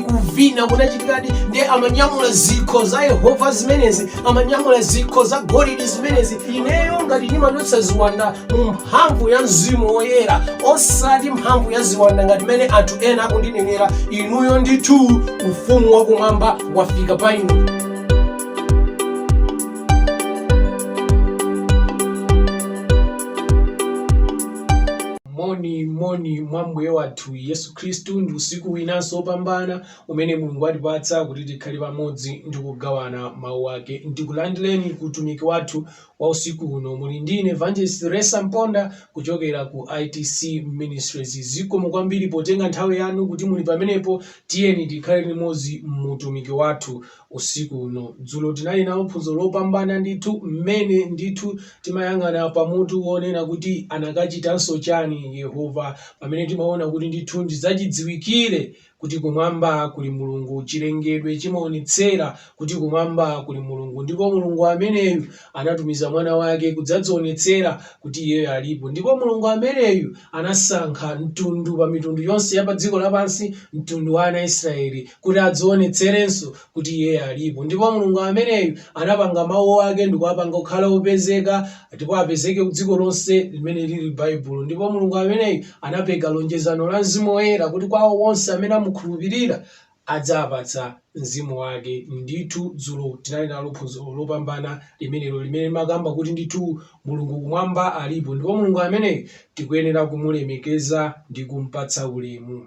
kuvina kunachitikadi ndiye amanyamula zikho za yehova zimenezi amanyamula zikho za golidi zimenezi ineyo ngati ndimatulutsa ziwanda mu mphamvu ya mzimu woyera osati mphamvu ya ziwanda ngati mmene anthu ena akundinenera inuyo ndithu ufumu wakumwamba wafika pa inu moni moni mwa ambuye wathu yesu Khristu ndi usiku winanso wopambana umene Mulungu watipatsa kuti tikhale pamodzi ndi kugawana Mau ake. Ndikulandireni ku utumiki wathu wa usiku uno. Muli ndi ine Evangelist Ressa Mponda kuchokera ku ITC Ministries. Zikomo kwambiri potenga nthawi yanu kuti muli pamenepo. Tiyeni tikhale limodzi mu utumiki wathu usiku uno. Dzulo tinali nalo phunziro lopambana ndithu, mmene ndithu timayang'ana pa mutu wonena kuti anakachitanso chani Yehova, pamene timaona kuti ndithu ndi zachidziwikire kuti kumwamba kuli Mulungu, chilengedwe chimaonetsera kuti kumwamba kuli Mulungu, ndipo Mulungu ameneyu anatumiza mwana wake kudzadzionetsera kuti iyeyo alipo, ndipo Mulungu ameneyu anasankha mtundu pa mitundu yonse ya pa dziko lapansi, mtundu wa ana Israeli, kuti adzionetserenso kuti Iye alipo. Ndipo Mulungu ameneyu anapanga Mawu Ake ndi kuwapanga kukhala opezeka, ndipo apezeke ku dziko lonse limene liri Baibulo. Ndipo Mulungu ameneyu anapereka lonjezano la Mzimu Woyera, kuti kwa awo onse amene amukhulupirira, adzawapatsa Mzimu Wake. Ndithu, dzulo tinali nalo phunziro lopambana limenelo limene limakamba kuti ndithu Mulungu Kumwamba alipo. Ndipo Mulungu ameneyu tikuyenera kumulemekeza ndi kumpatsa ulemu.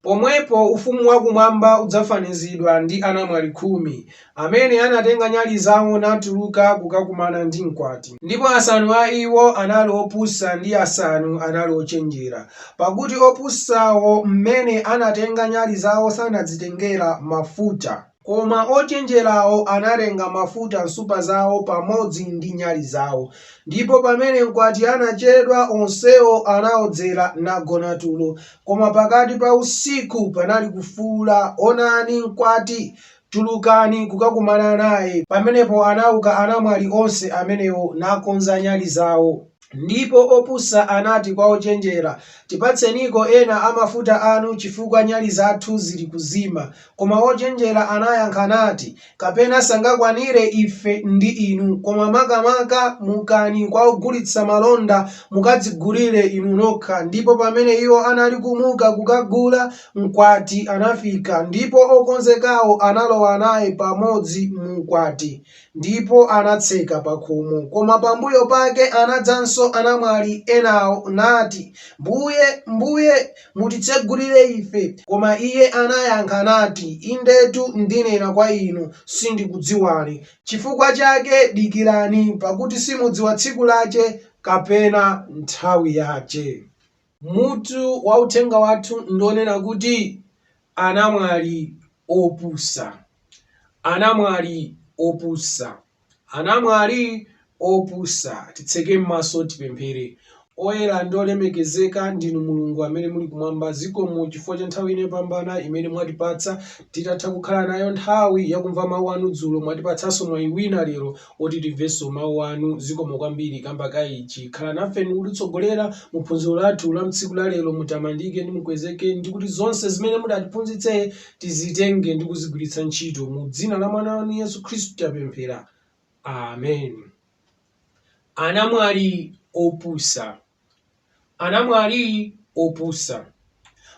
Pomwepo ufumu wa kumwamba udzafanizidwa ndi anamwali khumi, amene anatenga nyali zawo natuluka kukakumana ndi mkwati. Ndipo asanu a iwo anali opusa ndi asanu anali ochenjera. Pakuti opusawo m'mene anatenga nyali zawo sanadzitengera mafuta. Koma ochenjerawo anatenga mafuta m'nsupa zawo pamodzi ndi nyali zawo. Ndipo pamene mkwati anachedwa, onsewo anaodzera nagona tulo. Koma pakati pa usiku panali kufuula, Onani! Mkwati! Tulukani kukakumana naye. Pamenepo anauka anamwali onse amenewo, nakonza nyali zawo. Ndipo opusa anati kwa ochenjera, Tipatseniko ena a mafuta anu, chifukwa nyali zathu zili kuzima. Koma ochenjera anayankha nati, Kapena sangakwanire ife ndi inu, koma makamaka mukani kwa ogulitsa malonda, mukadzigulire inu nokha. Ndipo pamene iwo anali kumuka kukagula, mkwati anafika, ndipo okonzekawo analowa naye pamodzi mu ukwati. Ndipo anatseka pakhomo. Koma pambuyo pake anadzanso anamwali enawo, nati, Mbuye, Mbuye, mutitsegulire ife. Koma Iye anayankha nati, Indetu ndinena kwa inu, Sindikudziwani. Chifukwa chake dikirani, pakuti simudziwa tsiku lake kapena nthawi yake. Mutu wa uthenga wathu ndi wonena kuti, Anamwali Opusa. Anamwali opusa. Anamwali opusa. Titseke m'maso tipemphere. Oyera ndi olemekezeka ndinu Mulungu amene muli kumwamba, zikomo chifukwa cha nthawi ino yopambana imene mwatipatsa. Titatha kukhala nayo nthawi yakumva mau anu dzulo, mwatipatsanso mwayi wina lero oti timvenso mawu anu zikomo kwambiri kamba ka ichi khala nafe ndikutitsogolera muphunziro lathu la mtsiku la lero mutamandike ndi mukwezeke ndikuti zonse zimene mudatiphunzitse tizitenge ndi kuzigwiritsa ntchito mu dzina la mwana wanu yesu khristu tapemphera amen anamwali opusa anamwali opusa.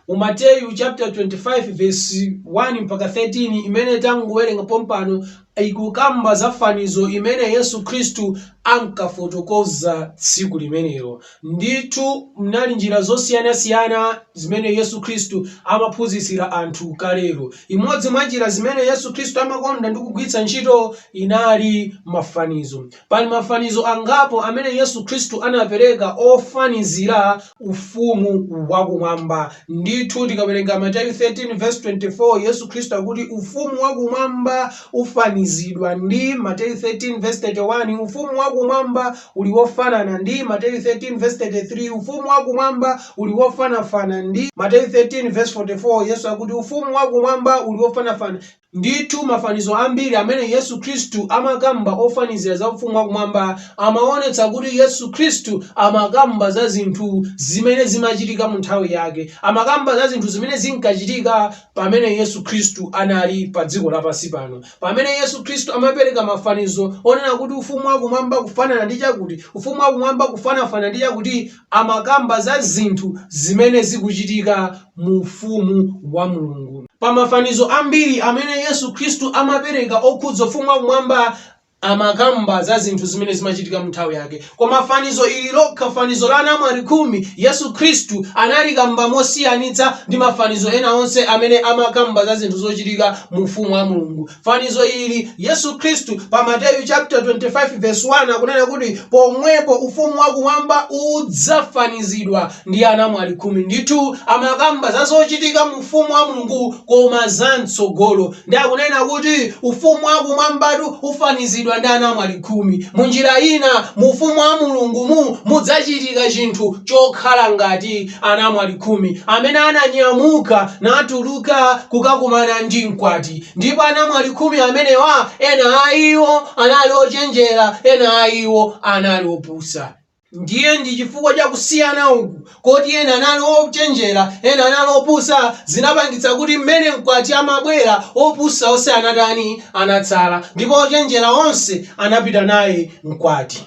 Mu Mateyu chaputala 25 vesi 1 mpaka 13 imene tangowerenga pompano ikukamba za fanizo imene Yesu Khristu ankafotokoza tsiku limenelo. Ndithu munali njira zosiyanasiyana zimene Yesu Khristu amaphunzitsira anthu kalelo. Imodzi mwa njira zimene Yesu Khristu amakonda ndi kugwiritsa ntchito inali mafanizo. Pali mafanizo angapo amene Yesu Khristu anapereka ofanizira Ufumu wakumwamba. Ndithu, tikawerenga Mateyu 13:24, Yesu Khristu akuti Ufumu wakumwamba ufanizidwa ndi, Mateyu 13:31, Ufumu wakumwamba uli wofanana ndi, Mateyu 13:33, Ufumu wakumwamba uli wofanafana ndi, Mateyu 13:44, Yesu akuti Ufumu wakumwamba uli wofanafana. Ndithu mafanizo ambiri amene Yesu Khristu amakamba ofanizira za Ufumu wa kumwamba, amaonetsa kuti Yesu Khristu amakamba za zinthu zimene zimachitika mu nthawi yake. Amakamba za zinthu zimene zinkachitika pamene Yesu Khristu anali padziko lapansi pano. Pamene Yesu Khristu amapereka mafanizo onena kuti Ufumu wa kumwamba kufanana ndi chakuti, Ufumu wa kumwamba kufanafana ndi chakuti, amakamba za zinthu zimene zikuchitika mu Ufumu wa Mulungu. Pa mafanizo ambiri amene Yesu Khristu amapereka okhudza Ufumu wa kumwamba, amakamba za zinthu zimene zimachitika mu nthawi yake. Koma fanizo ili lokha, fanizo la anamwali khumi, Yesu Khristu analikamba mosiyanitsa ndi mafanizo ena onse amene amakamba za zinthu zochitika mu Ufumu wa Mulungu. fanizo ili, Yesu Khristu pa Mateyu chaputala 25 vesi 1 akunena kuti, Pomwepo ufumu wakumwamba udzafanizidwa ndi anamwali khumi. Ndithu amakamba za zochitika mu Ufumu wa Mulungu koma za m'tsogolo. Ndiye akunena kuti Ufumu wakumwambatu ufanizidwa ndi anamwali khumi. Munjira ina, mu Ufumu wa Mulungumu mudzachitika chinthu chokhala ngati anamwali khumi amene ananyamuka natuluka kukakumana ndi mkwati. Ndipo anamwali khumi amenewa, ena a iwo anali ochenjera, ena a iwo anali opusa. Ndiye ndi chifukwa cha kusiyana uku, koti ena anali ochenjera, ena anali opusa, zinapangitsa kuti mmene mkwati amabwera, opusa onse anatani? anatsala, ndipo ochenjera onse anapita naye mkwati.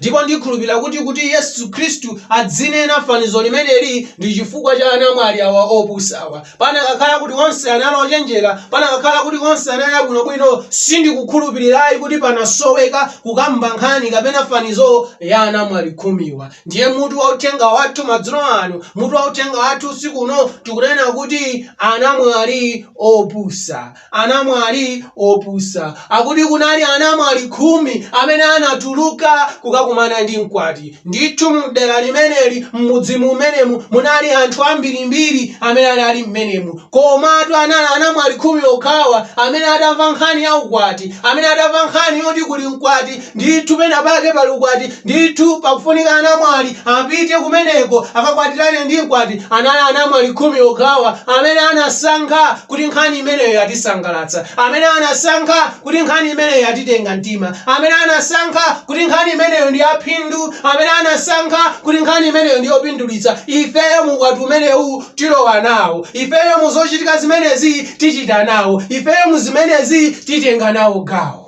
Ndipo ndikhulupirira kuti, kuti Yesu Khristu adzinena fanizo limeneli, ndi chifukwa cha anamwali awa opusawa. Panakakhala kuti onse anali ochenjera, panakakhala kuti onse anali abwino bwino, sindikukhulupirira ayi kuti panasoweka kukamba nkhani kapena fanizo ya anamwali khumiwa. Ndiye mutu wa uthenga wathu madzulo ano, mutu wa uthenga wathu usiku uno, tikunena kuti, Anamwali Opusa. anamwali opusa. Akuti kunali anamwali khumi amene anatuluka kukakumana ndi mkwati. Ndithu mdera limeneli, mmudzi mumenemu munali anthu ambirimbiri amene anali mmenemu. Komatu anali anamwali khumi okhawa amene atamva nkhani ya ukwati, amene atamva nkhani yoti kuli mkwati Ndithu penapake pali ukwati, ndithu pakufunika anamwali apite kumeneko akakwatirane ndi mkwati. Anali anamwali khumi okhawa amene anasankha kuti nkhani imeneyo yatisangalatsa, amene anasankha kuti nkhani imeneyo yatitenga mtima, amene anasankha kuti nkhani imeneyo ndi ya phindu, amene anasankha kuti nkhani imeneyo ndi yopindulitsa. Ifeyo mu ukwati umenewu tilowa nawo, ifeyo mu zochitika zimenezi tichita nawo, ifeyo mu zimenezi titenga nawo gawo.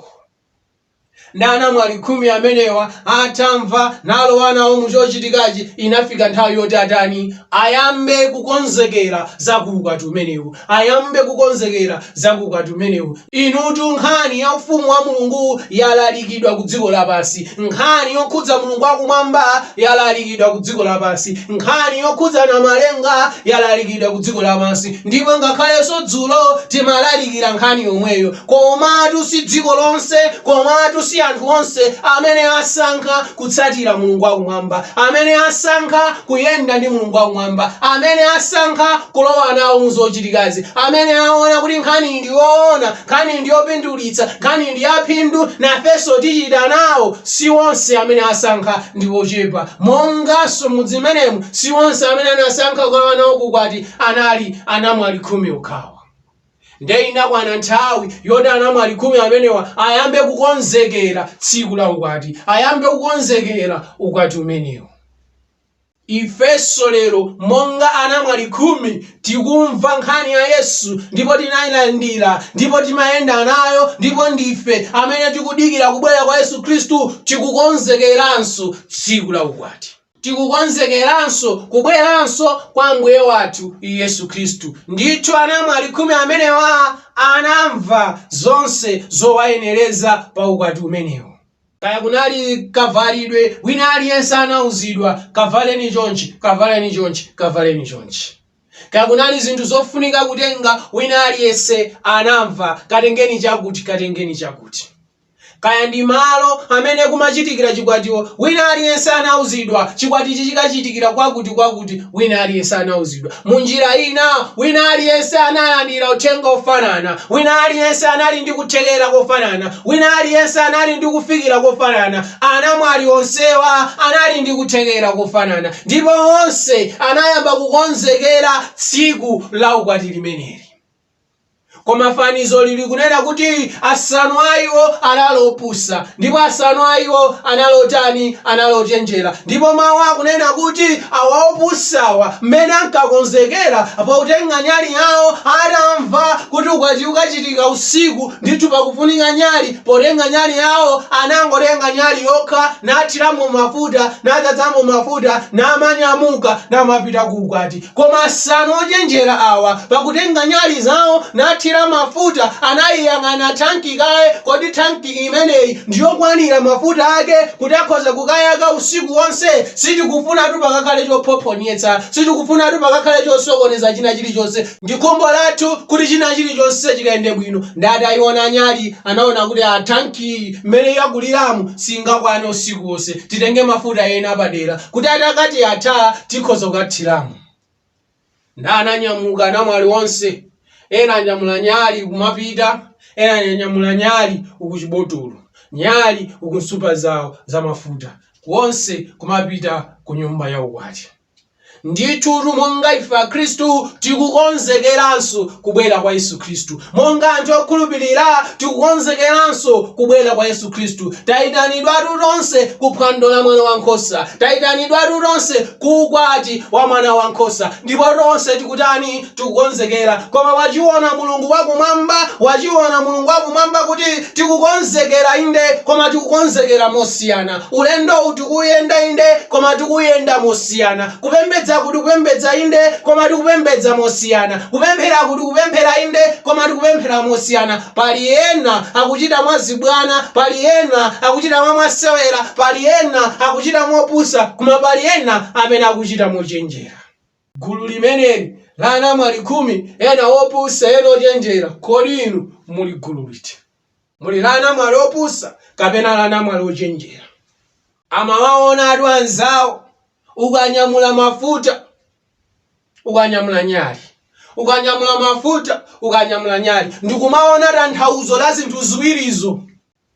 ndi anamwali khumi amenewa atamva nalowa nawo mu chochitikachi, inafika nthawi yoti atani? Ayambe kukonzekera za ku ukwati umenewu. Ayambe kukonzekera za ku ukwati umenewu. Inutu nkhani ya Ufumu wa Mulungu yalalikidwa ku dziko lapansi. Nkhani yokhudza Mulungu wa Kumwamba yalalikidwa ku dziko lapansi. Nkhani yokhudza Namalenga yalalikidwa ku dziko lapansi. Ndipo ngakhalenso dzulo timalalikira nkhani yomweyo. Komatu si dziko lonse, komatu si anthu onse, amene asankha kutsatira Mulungu wakumwamba, amene asankha kuyenda ndi Mulungu wakumwamba, amene asankha kulowa nawo mu zochitikazi, amene aona kuti nkhaniyi ndi yoona, nkhaniyi ndi yopindulitsa, nkhaniyi ndi yaphindu, nafenso tichita nawo. Si onse amene asankha, ndi ochepa. Monganso m'mudzi mmenemu, si onse amene anasankha kulowa nawo ku ukwati anali anamwali khumi okhawa. Nde inakwana nthawi yoti anamwali khumi amenewa ayambe kukonzekera tsiku la ukwati, ayambe kukonzekera ukwati umenewu. Ifenso lero monga anamwali khumi tikumva nkhani ya Yesu ndipo tinailandira ndipo timayenda nayo ndipo ndife amene tikudikira kubwera kwa Yesu Khristu, tikukonzekeranso tsiku la ukwati. Tikukonzekeranso kubweranso kwa Mbuye wathu Yesu Khristu. Ndithu anamwali khumi amenewa anamva zonse zowayenereza pa ukwati umenewu. Kaya kunali kavalidwe, wina aliyense anauzidwa, Kavaleni chonchi, kavaleni chonchi, kavaleni chonchi. Kaya kunali zinthu zofunika kutenga, wina aliyense anamva, Katengeni chakuti, katengeni chakuti. Kaya ndi malo amene kumachitikira chikwatiwo, wina aliyense anauzidwa, chikwatichi chikachitikira kwakutikwakuti, wina aliyense anauzidwa. Mu njira ina, wina aliyense analandira uthenga wofanana, wina aliyense anali ndi kuthekera kofanana, wina aliyense anali ndi kufikira kofanana. Anamwali onsewa anali ndi kuthekera kofanana, ndipo onse anayamba kukonzekera tsiku la ukwati limeneli. Koma fanizo lili kunena kuti asanu a iwo anali opusa, ndipo asanu a iwo anali otani? Anali ochenjera. Ndipo Mawu akunena kuti awa opusawa, mmene ankakonzekera, potenga nyali yawo, atamva kuti ukwati ukachitika usiku, ndithu pakufunika nyali, potenga nyali yawo, anangotenga nyali yokha, nathiramo mafuta, nadzazamo mafuta, namanyamuka, namapita ku ukwati. Koma asanu ochenjera awa, pakutenga nyali zawo nathira mafuta, anaiyang'ana thanki kaye, Kodi thanki imeneyi ndi yokwanira mafuta ake kuti akhoza kukayaka usiku wonse? Sitikufunatu pakakhale chophophonyetsa. Sitikufunatu pakakhale chosokoneza china chilichonse. Ndi khumbo lathu kuti china chilichonse chikayende bwino. Nde ataiona nyali, anaona kuti, Aa, thankiyi mmene yakuliramu singakwane usiku wonse. titenge mafuta ena apadera kuti atakati atha tikhoza kukathiramo. Nde ananyamuka anamwali onse, ena anyamula nyali kumapita, ena anyamula nyali uku chibotolo, nyali uku nsupa zawo za mafuta, wonse kumapita ku nyumba ya ukwati. Ndithutu, monga ife Akhristu tikukonzekeranso kubwera kwa Yesu Khristu, monga anthu okhulupirira tikukonzekeranso kubwera kwa Yesu Khristu, tayitanidwatu tonse ku phwando la Mwana wa Nkhosa, tayitanidwatu tonse ku ukwati wa Mwana wa Nkhosa, ndipo tonse tikutani? tikukonzekera, koma wachiwona Mulungu wa Kumwamba, wachiwona Mulungu wa Kumwamba kuti tikukonzekera, inde, koma tikukonzekera mosiyana. Ulendowu tikuwuyenda, inde, koma tikuwuyenda mosiyana. Kupembedzaku tikupembedza, inde, koma tikupembedza mosiyana. Kupempheraku tikupemphera, inde, koma tikupemphera mosiyana. Pali ena akuchita mwazibwana, pali ena akuchita mwa mwasewera, pali ena akuchita mopusa, koma pali ena amene akuchita mochenjera. Gulu limeneli, la anamwali khumi, ena opusa, ena ochenjera, kodi inu muli gulu liti? Muli la anamwali opusa kapena la anamwali ochenjera? Amawaonatu anzawo, ukanyamula mafuta, ukanyamula nyali, ukanyamula mafuta, ukanyamula nyali, ndi kumaona tanthauzo la zinthu ziwirizo.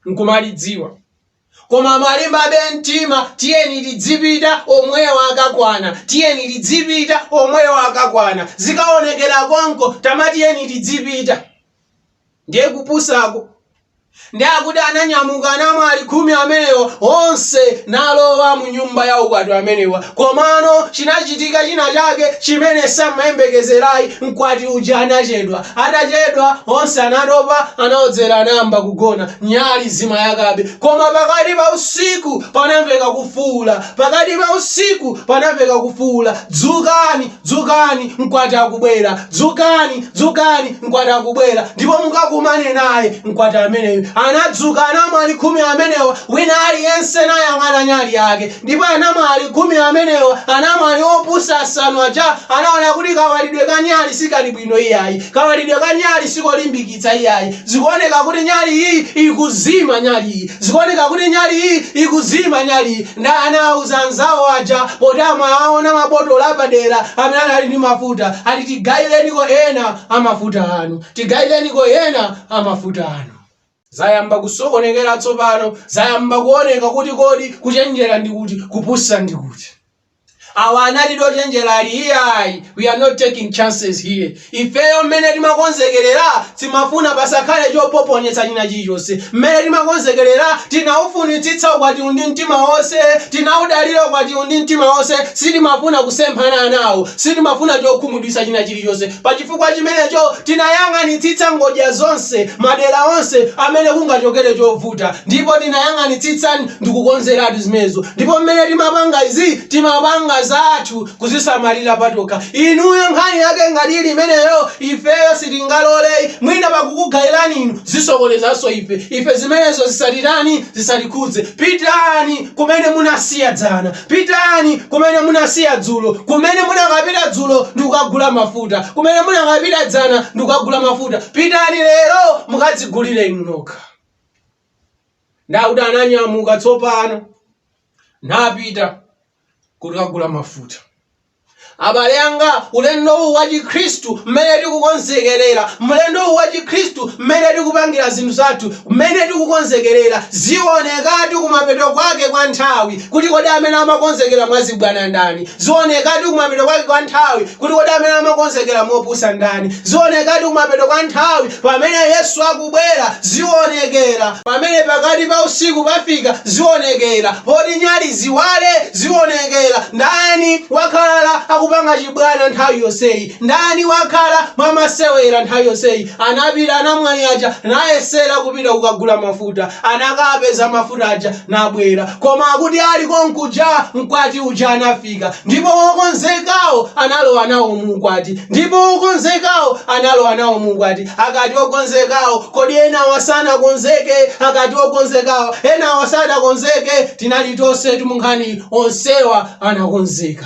nkumalidziwa koma amalimbabe mtima tiyeni tidzipita omwewo akakwana tiyeni tidzipita omwewo akakwana zikaonekera konko tama tiyeni tidzipita ndiye kupusako ndi akuti ananyamuka anamwali khumi amenewa onse nalowa mu nyumba ya ukwati amenewa Komano chinachitika china chake chimene samayembekezerayi mkwati uja anachedwa atachedwa onse anatopa anaodzera anayamba kugona nyali zimayakabe koma pakati pa usiku panamveka kufuula pakati pa usiku panamveka kufuula dzukani dzukani mkwati akubwera dzukani dzukani mkwati akubwera ndipo mukakumane naye mkwati ameneyu anadzuka anamwali khumi amenewa wina aliyense nayang'ana nyali yake ndipo anamwali khumi amenewa anamwali opusa asanu aja anaona kuti kawalidwe ka nyali sikali bwino iyayi kawalidwe ka nyali sikolimbikitsa iyayi zikuoneka kuti nyali iyi ikuzima nyali iyi zikuoneka kuti nyali iyi ikuzima nyali iyi nda anawauza anzawo aja poti amawaona mabotolo apadera amene anali ndi mafuta ati tigayireniko ena amafuta anu tigayireniko ena amafuta anu Zayamba kusokonekera tsopano, zayamba kuoneka kuti kodi kuchenjera ndi kuti, kupusa ndi kuti. Awa anali ochenjera ali iyayi, we are not taking chances here. Ifeyo mmene timakonzekerera timafuna pasakhale chophophonyetsa china chilichonse. Mmene timakonzekerera tinaufunitsitsa ukwatiwu ndi mtima wonse, tinaudalira ukwatiwu ndi mtima wonse, sitimafuna kusemphana nawo, sitimafuna chokhumudwitsa china. chilichonse. Pa chifukwa chimenecho, tinayang'anitsitsa ngodya zonse, madera onse amene kungachokere chovuta, ndipo tinayang'anitsitsa ndikukonzeratu zimenezo. Ndipo mmene timapanga izi, timapanga zathu kuzisamalira patokha. Inuyo nkhani yake ngati ili imeneyo, ifeyo sitingaloleyi, mwina pakukugayirani inu, zisokonezanso ife. Ife zimenezo zisatitani, zisatikhudze. Pitani kumene munasiya dzana. Pitani kumene munasiya dzulo, kumene munakapita dzulo ndikukagula mafuta, kumene munakapita dzana ndikukagula mafuta. Pitani lero mukadzigulire inu nokha. Ndiye akuti ananyamuka tsopano napita kuti akagula mafuta. Abale anga, ulendo uwu wa Chikhristu, mmene tikukonzekerera, ulendo uwu wa Chikhristu, mmene tikupangira zinthu zathu, mmene tikukonzekerera, zionekatu kumapeto kwake kwa nthawi, kuti kodi amene amakonzekera mwazibwana ndani, zionekatu kumapeto kwake kwa nthawi, kuti kodi amene amakonzekera mopusa ndani, zionekatu kumapeto kwa nthawi, pamene Yesu aku. kubwera, zionekera, pamene pakati pa usiku pafika, zionekera, poti nyali ziwale, zionekera, ndani wakhala akupanga chibwana nthawi yonseyi, ndani wakhala mwamasewera nthawi yonseyi, anapita anamwali aja nayesera kupita kukagula mafuta, anakapeza mafuta aja nabwera, koma akuti ali konkuja mkwati uja anafika, ndipo okonzekawo analowa nawo muukwati, ndipo okonzekawo analowa nawo muukwati. akati okonzekawo, kodi enawa sanakonzeke, akati okonzekawo, enawa sanakonzeke, tinali tonsetu mu nkhaniyi, onsewa anakonzeka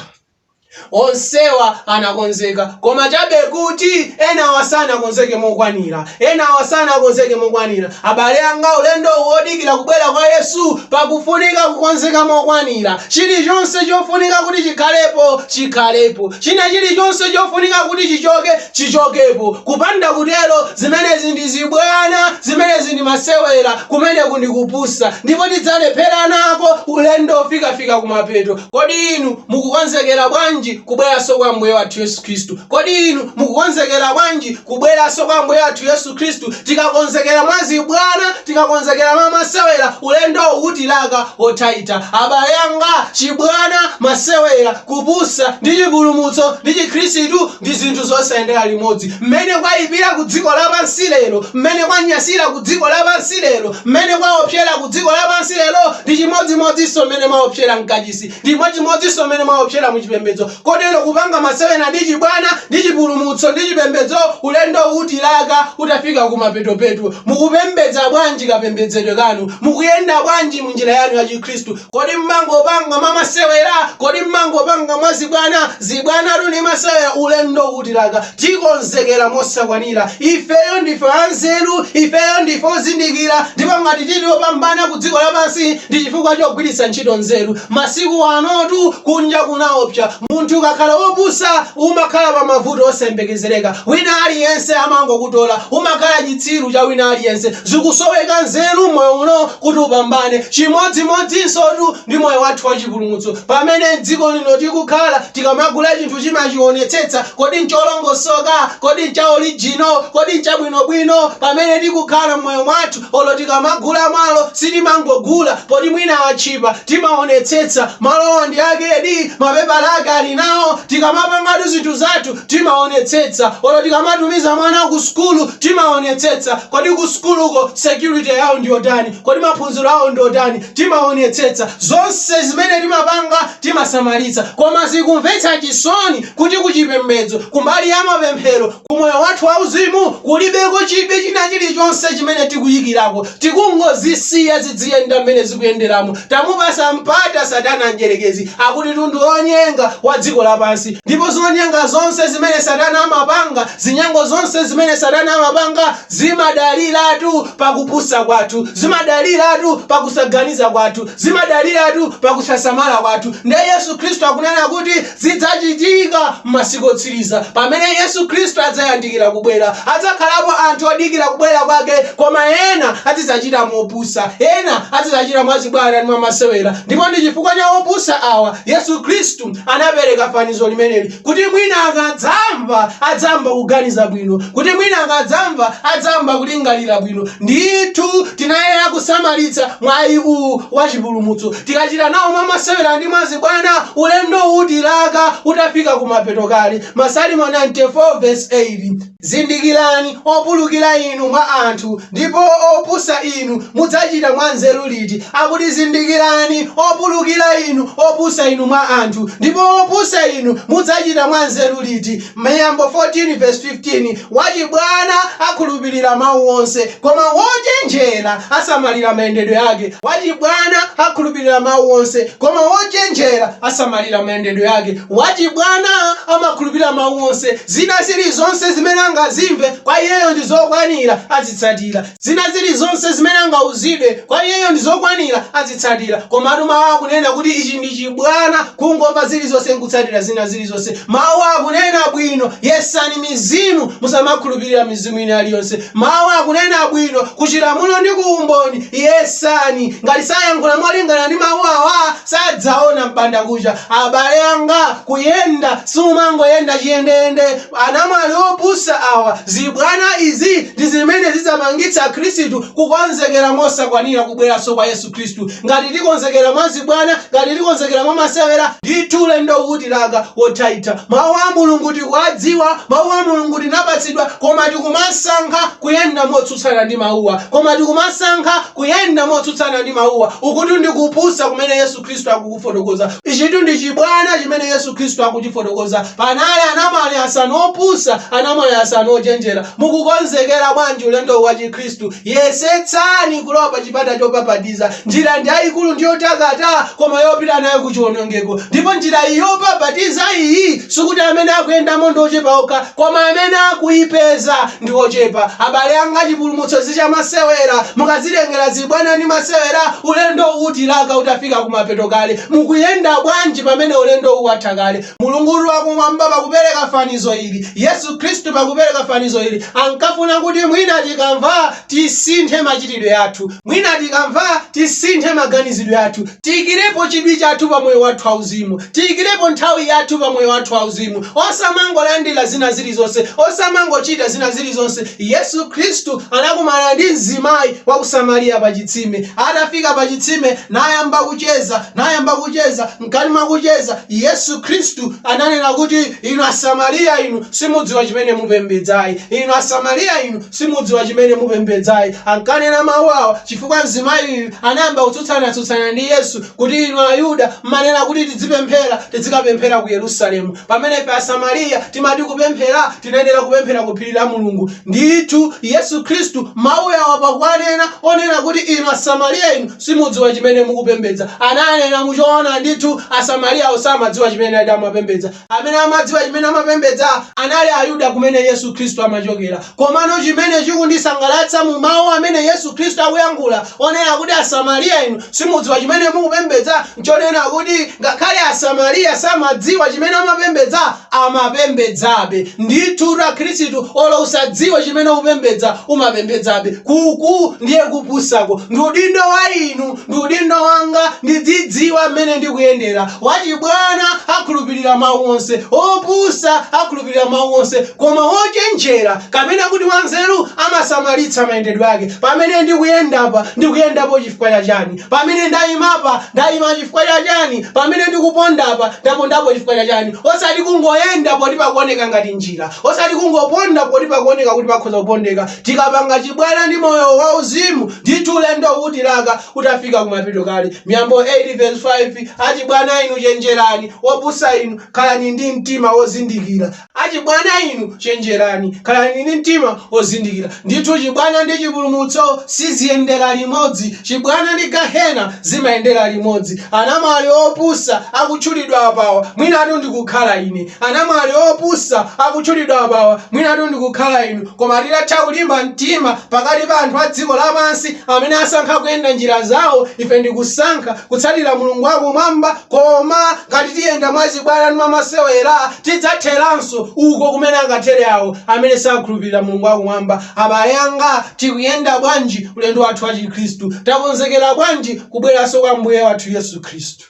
onsewa anakonzeka koma chabe kuti enawa sanakonzeke mokwanira enawa sanakonzeke mokwanira abale anga ulendowu wodikira kubwera kwa yesu pakufunika kukonzeka mokwanira chilichonse chofunika kuti chikhalepo chikhalepo china chilichonse chofunika kuti chichoke chichokepo. Kupanda kutero, zimenezi ndi zibwana, zimenezi ndi masewera, kumeneku ndi kupusa, ndipo tidzalephera nawo ulendo ofikafika kumapeto. Kodi inu mukukonzekera bwanji kubweranso kwa Ambuye wathu Yesu Khristu? Kodi inu mukukonzekera bwanji kubweranso kwa Ambuye wathu Yesu Khristu? Tikakonzekera mwa zibwana, tikakonzekera mwa masewera, ulendowu utilaka wothaitha. Abale anga, chibwana, masewera, kupusa, ndi chipulumutso ndi Chikhristu ndi zinthu zosayendera limodzi, mmene kwaipira ku dziko lapansi lero, mmene kwanyasira ku dziko lapansi lero, mmene kwaopsera ku dziko lapansi lero, ndi chimodzimodzinso mmene mwaopsera mkachisi, ndi chimodzimodzinso mmene mwaopsera mu chipembedzo. Kotero kupanga masewera ndi chibwana, ndi chipulumutso, ndi chipembedzo, ulendo utilaka utafika kumapetopeto. Mukupembedza bwanji kapembedzedwe kanu? Mukuyenda bwanji mu njira yanu ya Chikhristu? Kodi mmangopanga mwa masewera? Kodi mmangopanga mwa zibwana? Zibwanatu ndi masewera, ulendo utilaka, tikonzekera mosakwanira. Ifeyo ndife anzeru, ifeyo ndife ozindikira ndipo ngati tili opambana ku dziko lapansi ndi chifukwa chogwiritsa ntchito nzeru. Masiku anotu kunja kunaopsa, munthu ukakhala wopusa umakhala pa mavuto osayembekezereka, wina aliyense amangokutola, umakhala chitsiru cha wina aliyense. Zikusoweka nzeru m'moyo uno kuti upambane. Chimodzimodzinsotu ndi moyo wathu wa chipulumutso. Pamene m'dziko lino tikukhala, tikamagula chinthu timachionetsetsa. Kodi n'cholongosoka? Kodi n'cha orijino? Kodi n'chabwinobwino? Pamene tikukhala m'moyo mwathu, olo tikamagula malo, sitimangogula poti mwina atchipa. Timaonetsetsa. Malowa ndi akedi? Mapepala ake ali nawo? Tikamapangatu zinthu zathu, Timaonetsetsa olo tikamatumiza mwana ku sukulu timaonetsetsa kodi ku sukuluko security yawo ndiyotani, kodi maphunziro awo ndiotani timaonetsetsa zonse zimene timapanga timasamalitsa koma zikumvetsa chisoni kuti ku chipembedzo kumbali ya mapemphero ku moyo wathu wauzimu kulibeko chidwi chinachilichonse chimene tikuyikirako Tikungozisiya zidziyenda mmene zikuyenderamo. Tamupatsa mpata satana mdyerekezi, akutitu ndi onyenga wa dziko lapansi. Ndipo zonyenga zonse zimene satana amapanga, zinyango zonse zimene satana amapanga, zimadaliratu pa kupusa kwathu, zimadaliratu pa kusaganiza kwathu, zimadaliratu pa kusasamala kwathu. Ndiye Yesu Khristu akunena kuti Zidzachitika m'masiku otsiriza, pamene Yesu Khristu adzayandikira kubwera, adzakhalapo anthu odikira kubwera kwake, koma ena adzidzachita mopusa, ena adzidzachita mwazibwana ndi mwamasewera, ndipo ndi chifukwa cha opusa awa Yesu Khristu anapereka fanizo limeneli, kuti mwina akadzamva adzayamba kuganiza bwino, kuti mwina akadzamva adzayamba kulingalira bwino. Ndithu tinayenera kusamalitsa mwayi uwu wa chipulumutso. Tikachita nawo mwa masewera ndi mwa zibwana, ulendo utilaka utafika kumapeto kale. Masalimo 94 vesi 8. Zindikirani, opulukira inu mwa anthu, ndipo opusa inu, mudzachita mwa nzeru liti? Akuti, Zindikirani, opulukira inu, opusa inu mwa anthu, ndipo opusa inu, mudzachita mwa nzeru liti? Miyambo 14 vesi 15. Wachibwana akhulupirira mau onse, koma wochenjera asamalira mayendedwe yake. Wachibwana akhulupirira mau onse, koma wochenjera asamalira mayendedwe yake. Wachibwana amakhulupirira mau onse, zina zilizonse zimene angazimve, kwa iyeyo ndi zokwanira, azitsatira. Zina zili zonse zimene angauzidwe, kwa iyeyo ndi zokwanira, azitsatira. Komatu Mawu akunena kuti ichi ndi chibwana, kungomva zili zonse nkutsatira zina zili zonse. Mawu akunena bwino, yesani mizimu, musamakhulupirira mizimu ina ali yonse. Mawu akunena bwino, ku chilamulo ndi ku umboni, yesani. Ngati sayankhula molingana ndi Mawu awa, sadzaona m'bandakucha. Abale anga, kuyenda, sumangoyenda chiyendeyende. Anamwali opusa awa, zibwana izi ndi zimene zidzapangitse Akhristu kukonzekera mosakwanira kubweranso kwa Yesu Khristu. Ngati tikonzekera mwa zibwana, ngati tikonzekera mwa masewera, ndithu ulendowu utilaka wothaitha. Mau a Mulungu tikuwadziwa, Mau a Mulungu tinapatsidwa, koma tikumasankha kuyenda motsutsana ndi Mauwa. Koma tikumasankha kuyenda motsutsana ndi Mauwa. Ukutu ndi kupusa kumene Yesu. Khristu akukufotokoza. Ichitu ndi chibwana chimene Yesu Khristu akuchifotokoza. Panali anamwali asanu opusa, anamwali asanu ochenjera. Mukukonzekera bwanji ulendowu wa Chikhristu? Yesetsani kulowa pa chipata chopapatiza. Njira ndi yayikulu ndi yotakata koma yopita nayo ku chiwonongeko. Ndipo njira iyi yopapatiza iyi sikuti amene akuyendamo ndi ochepa okha. Koma amene akuipeza ndi ochepa. Abale anga, chipulumutso si chamasewera. Mukazitengera zibwana ndi masewera, ulendo utilaka utafika kumapeto kale. Mukuyenda bwanji pamene ulendowu watha kale? Mulungutu wakumwamba pakupereka fanizo ili, Yesu Khristu pakupereka fanizo ili, ankafuna kuti mwina tikamva, tisinthe machitidwe athu. Mwina tikamva tisinthe maganizidwe athu. Tiikirepo chidwi chathu pa moyo wathu wa uzimu. Tiikirepo nthawi yathu pa moyo wathu wa uzimu. Osamangolandira zina zilizonse. Osamangochita zina zilizonse. Yesu Kristu anakumana ndi mzimayi wa ku Samariya pa chitsime. Atafika pa chitsime, nayamba kucheza, nayamba kucheza. Mkati mwa kucheza, Yesu Kristu ananena kuti, Inu Asamariya inu, simudziwa chimene mupembedza ayi. Inu Asamariya inu. Simudziwa chimene mupembedza ayi. Ankanena mawu awa chifukwa mzimayiyu anayamba kutsutsana-tsutsana ndi Yesu kuti inu Ayuda m'manena kuti tidzipemphera, tidzikapemphera ku Yerusalemu, pamene ife Asamariya timati kupemphera tinayenera kupemphera ku phiri la Mulungu. Ndithu Yesu Khristu mawu awa pakuwanena onena kuti inu Asamariya inu simudziwa chimene mukupembedza, ananena mu choona ndithu Asamariyawo samadziwa chimene nadi amapembedza. amene amadziwa chimene amapembedza? Anali Ayuda kumene Yesu Kristu amachokera. Komano chimene chikundisangalatsa mu mawu amene Yesu Kristu akuyankhula onena kuti Asamariya inu simudziwa chimene mukupembedza nchonena kuti ngakhale Asamariya samadziwa chimene amapembedza, amapembedzabe. Ndithu Akristu olo usadziwe chimene ukupembedza, umapembedzabe. Ku-ku ndiye kupusako. Ndi udindo wa inu Ndi udindo wanga ndidzidziwa mmene ndikuyendera. Wachibwana akhulupirira mawu onse, wopusa akhulupirira mawu onse, koma wochenjera, kapena kuti wanzeru, amasamalitsa mayendedwe ake. Pamene ndikuyendapa, ndikuyendapo chifukwa cha chani? Pamene ndaimapa, ndaima chifukwa cha chani? Pamene ndikupondapa, ndapondapo chifukwa cha chani? Osati kungoyenda poti pakuoneka ngati njira, osati kungoponda poti pakuoneka kuti pakhoza kupondeka. Tikapanga chibwana ndi moyo wa uzimu, ndithu ulendo utilaka utafika kumapeto kale. Miyambo 8 vs 5, Achibwana inu chenjerani, opusa inu, khalani ndi mtima wozindikira. Achibwana inu chenjerani, khalani ndi mtima wozindikira. Ndithu chibwana ndi chipulumutso siziyendera limodzi. Chibwana ndi Gahena zimayendera limodzi. Anamwali opusa akutchulidwa apawa mwinatu ndikukhala ine. Anamwali opusa akutchulidwa apawa mwinatu ndikukhala inu. Koma titatha kulimba mtima pakati pa anthu a dziko lapansi amene asankha kuyenda njira zawo, ife ndi kusankha kutsatira Mulungu wa Kumwamba. Koma ngati tiyenda mwachibwana ndi mwamasewera, tidzatheranso uko kumene akathere awo amene sakhulupirira Mulungu wa Kumwamba. Abale anga, tikuyenda bwanji ulendo wathu wa Chikhristu? Takonzekera bwanji kubweranso kwa Ambuye wathu Yesu Khristu?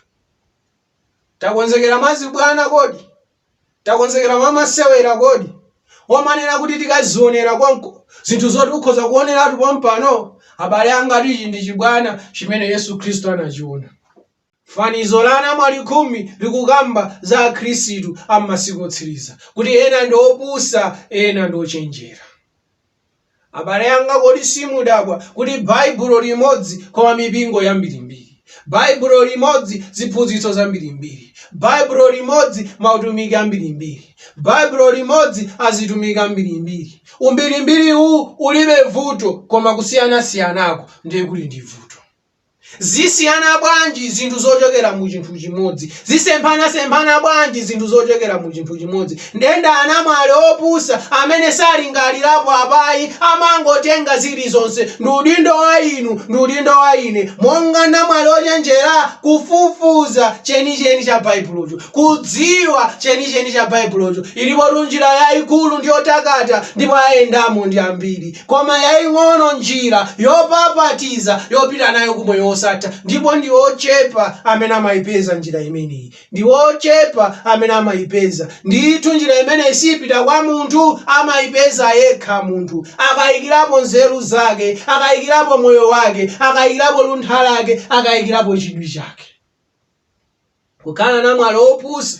Takonzekera mwachibwana kodi? Takonzekera mwamasewera kodi? Omanena kuti tikazionera konko zinthu zoti ukhoza kuoneratu pompano? Abale angatu ichi ndi chibwana chimene Yesu Khristu anachiona. Fanizo la anamwali khumi likukamba za Akhristu a m'masiku otsiriza kuti ena ndi opusa ena ndi ochenjera. Abale anga, kodi simudabwa kuti Baibulo limodzi, koma mipingo yambirimbiri? Baibulo limodzi, ziphunzitso zambirimbiri? Baibulo limodzi, mautumiki ambirimbiri? Baibulo limodzi, azitumiki ambirimbiri? Umbirimbiri uwu ulibe vuto, koma kusiyanasiyanako ndiye kuli ndi vuto. zisiyana bwanji zinthu zochokera mu chinthu chimodzi zisemphanasemphana bwanji zinthu zochokera mu chinthu chimodzi nde ndi anamwali opusa amene salingalirapo apa ayi amangotenga zilizonse ndi udindo wa inu ndi udindo wa ine monga namwali ochenjera kufufuza chenicheni cha baibulocho kudziwa chenicheni cha baibulocho ilipotu njira yayikulu ndi yotakata ndipo ayendamo ndi ambiri koma yaing'ono njira yopapatiza yopita nayo ku Moyo Wosatha, ndipo ndi ochepa amene amaipeza njira imeneyi. Ndi ochepa amene amaipeza. Ndithu, njira imeneyi siipita kwa munthu, amaipeza yekha munthu, akaikirapo nzeru zake, akaikirapo moyo wake, akaikirapo luntha lake, akaikirapo chidwi chake. Kukhala namwali wopusa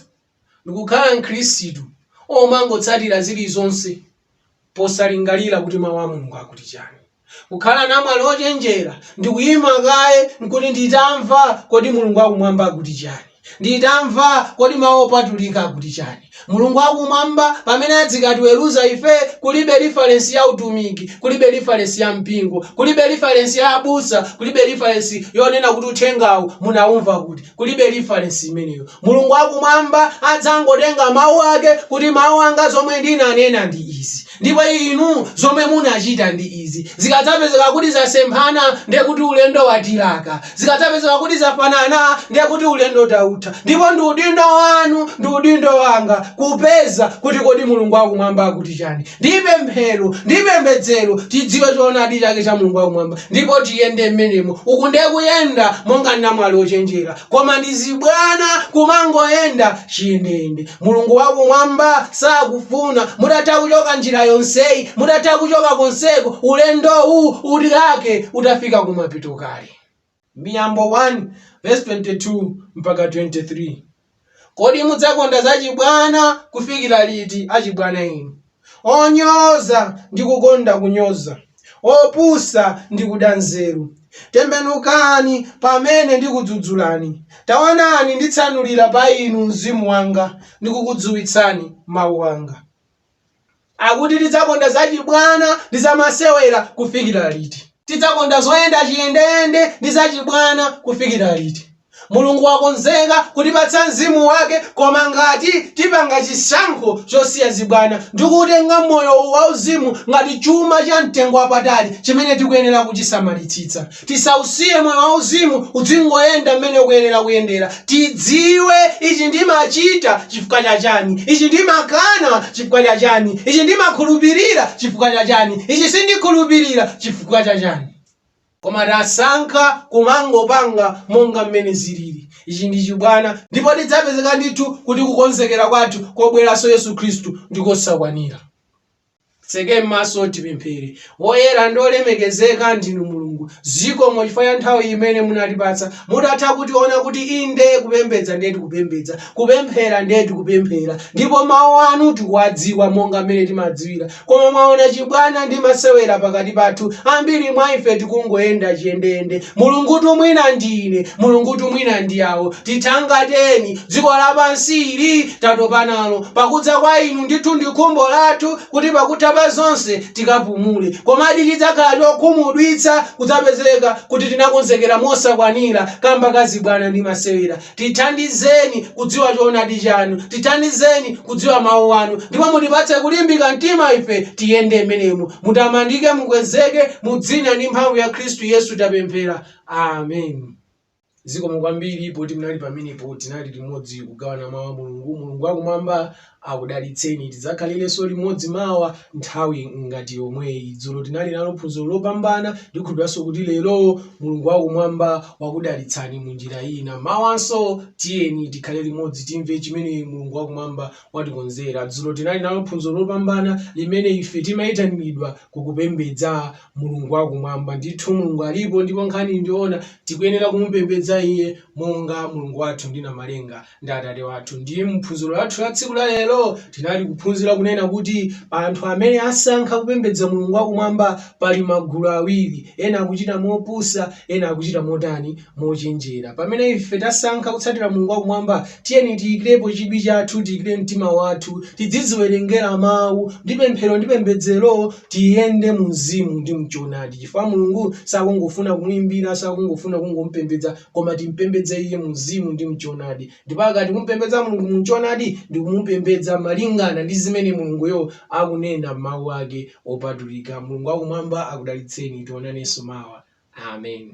ndi kukhala Mkhristu womangotsatira zilizonse posalingalira kuti Mawu a Mulungu akuti chani. Kukhala namwali wochenjera ndi kuima kaye n'kuti nditamva kodi Mulungu wakumwamba akuti chani, nditamva kodi Mawu Opatulika akuti chani. Mulungu wa Kumwamba, pamene adzikatiweruza ife, kulibe lifalensi ya utumiki, kulibe lifalensi ya mpingo, kulibe lifalensi ya abusa, kulibe lifalensi yonena kuti uthengawu munaumva kuti, kulibe lifalensi imeneyo. Mulungu wa Kumwamba adzangotenga mawu ake kuti mawu anga zomwe ndinanena ndi izi. Ndipo inu zomwe munachita ndi izi, zikadzapezeka kuti zasemphana, ndiye kuti ulendo watilaka. Zikadzapezeka kuti zafanana, ndiye kuti ulendo tautha. Ndipo ndi udindo wanu ndi udindo wanga kupeza kuti kodi Mulungu wa Kumwamba akuti chani. Ndi pemphero, ndi pembedzero, tidziwe choonadi chake cha Mulungu wa Kumwamba ndipo tiyende m'menemo. Uku ndiye kuyenda monga namwali ochenjera. koma ndi zibwana kumangoyenda chiyendeyende mulungu wakumwamba sakufuna mutatha kuchoka njira yonseyi mutatha kuchoka konseko ulendowu utilake utafika kumapeto kale miyambo 1 verse 22 mpaka 23 kodi mudzakonda zachibwana kufikira liti achibwana inu onyoza ndi kukonda kunyoza, opusa ndi kuda nzeru. Tembenukani pamene ndikudzudzulani, taonani nditsanulira pa inu mzimu wanga ndikukudziwitsani mawu anga. Akuti tidzakonda zachibwana ndi zamasewera kufikira liti? Tidzakonda zoyenda chiyendeyende ndi zachibwana kufikira liti? Mulungu wakonzeka kutipatsa mzimu wake koma ngati tipanga chisankho chosiya zibwana ndi kuutenga moyo wauzimu ngati chuma cha mtengo wapatali chimene tikuyenera kuchisamalitsitsa. Tisausiye moyo wauzimu udzingoyenda mmene ukuyenera kuyendera. Tidziwe ichi ndimachita chifukwa cha chani, ichi ndimakana chifukwa cha chani, ichi ndimakhulupirira chifukwa cha chani, ichi sindikhulupirira chifukwa cha chani. Koma tasankha kumangopanga monga mmene zilili. Ichi ndi chibwana, ndipo tidzapezeka ndithu kuti kukonzekera kwathu kobweranso Yesu Khristu ndi kosakwanira. Titseke m'maso tipemphere. Woyera ndi wolemekezeka ndinu Mulungu. Zikomo chifukwa cha nthawi imene munatipatsa. Mutatha kutiona kuti inde kupembedza ndiye tikupembedza, kupemphera ndiye tikupemphera, ndipo mau anu tikuwadziwa monga mmene timadziwira, Koma, mwaona, chibwana ndi masewera pakati pathu, ambiri mwa ife tikungoyenda chiyendeyende, Mulungutu mwina ndi ine, Mulungutu mwina ndi awo. Tithangateni, dziko lapansi ili tatopa nalo. Pakudza kwa Inu, ndithu ndi khumbo lathu kuti pakutha pa zonse tikapumule. Komadi chidzakhala chokhumudwitsa kudzapezeka kuti tinakonzekera mosakwanira kamba ka zibwana ndi masewera. Tithandizeni kudziwa choonadi chanu. Tithandizeni kudziwa Mawu anu. Ndipo mutipatse kulimbika mtima ife tiyende m'menemo. Mutamandike, mukwezeke, mu dzina ndi mphamvu ya Khristu Yesu tapemphera. Amen. Zikomo kwambiri poti munali pamenepo, tinali limodzi kugawana Mawu a Mulungu. Mulungu wakumwamba akudalitseni tidzakhalilenso limodzi mawa nthawi ngati yomweyi dzulo tinali nalo phunziro lopambana ndikhulupiranso kuti lero mulungu wakumwamba wakudalitsani mu njira ina mawanso tiyeni tikhale limodzi timve chimene mulungu wakumwamba watikonzera dzulo tinali nalo phunziro lopambana limene ife timayitanidwa kukupembedza mulungu wakumwamba ndithu mulungu alipo ndipo nkhani ndiona tikuyenera kumupembedza iye monga mulungu wathu ndi namalenga ndi Atate wathu. Ndiye mu phunziro lathu la tsiku la lero tinali kuphunzira kunena kuti anthu amene asankha kupembedza Mulungu wakumwamba pali magulu awiri, ena akuchita mopusa, ena akuchita motani? Mochenjera. Pamene ife tasankha kutsatira Mulungu wakumwamba, tiyeni tiyikirepo chidwi chathu, tiyikire mtima wathu, tidziziwerengera Mawu ndi pemphero ndi pembedzero, tiyende mu Mzimu ndi mchoonadi, chifukwa Mulungu sakungofuna kumuimbira, sakungofuna kungomupembedza, koma timpembedze iye mumzimu ndi mchoonadi. Ndipo akati tikumupembedza Mulungu mu mchoonadi, ndi kumupembedza malingana ndi zimene Mulunguyo akunena m'mawu ake opatulika. Mulungu wakumwamba akudalitseni. Tionanenso mawa. Amen.